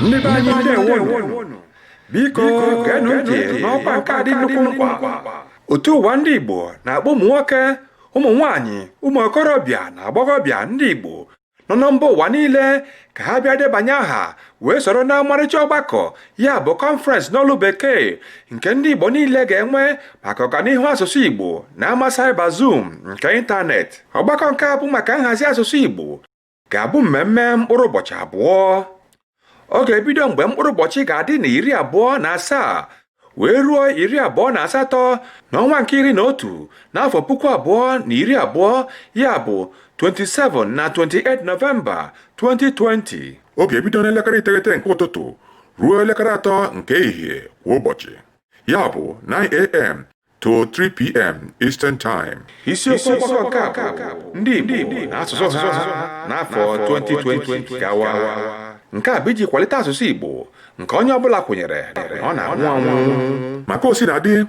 ndị be anyị ndewonụ biko geenụ ntị n'ọkwa nke a dị nnukwu mkpa otu ụwa ndị igbo na-akpọ ụmụ nwoke ụmụ nwaanyị ụmụ okorobịa na agbọghọbịa ndị igbo nọ na mba ụwa niile ka ha bịa debanye aha wee soro na ọmarịcha ọgbakọ ya bụ kọnferensị n'olu bekee nke ndị igbo niile ga-enwe maka ọganihu asụsụ igbo na ama cyber zoom nke ịntanetị ọgbakọ nke a bụ maka nhazi asụsụ igbo ga-abụ mmemme mkpụrụ ụbọchị abụọ ọ ga-ebido mgbe mkpụrụ ụbọchị ga-adị na iri abụọ na asaa wee ruo iri abụọ na asatọ n'ọnwa nke iri na otu n'afọ puku abụọ na iri abụọ ya bụ 27 na 28 Nọvemba 2020 ọ ga-ebido n'elekere iteghete nke ụtụtụ ruo elekere atọ nke ehihie kwa ụbọchị ya bụ 9am to 3 p.m. Eastern Time. Isiokwu ọgbakọ nke a bụ ndị Igbo na asụsụ ha n'afọ 2020 gawa. Nke a bụ iji kwalite asụsụ Igbo nke onye ọbụla kwenyere na ọ na-anwụ anwụ. Maka o si na dị,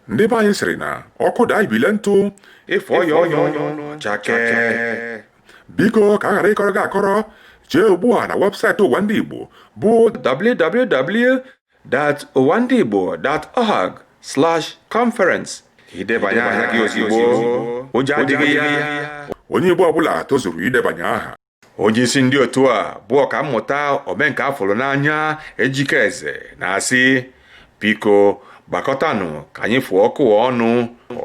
ndị be anyị sịrị na ọkụ daa ibile ntụ ị fụọ ya ọnụ ọ chakee. Biko ka a ghara ịkọrọ gị akọrọ jee ugbu a na webụsaịtị ụwa ndị Igbo bụ www www.ụwandịigbo.org slash conference ka i debanye aha gị ozugbo ụgwọ adịghị ya onye Igbo ọbụla tozuru idebanye aha onye isi ndị otu a bụ ọkammụta omenka a fụrụ n'anya ejike eze na-asị biko gbakọtanụ ka anyị fụọ ọkụ a ọnụ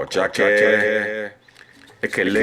ọ chakee ekele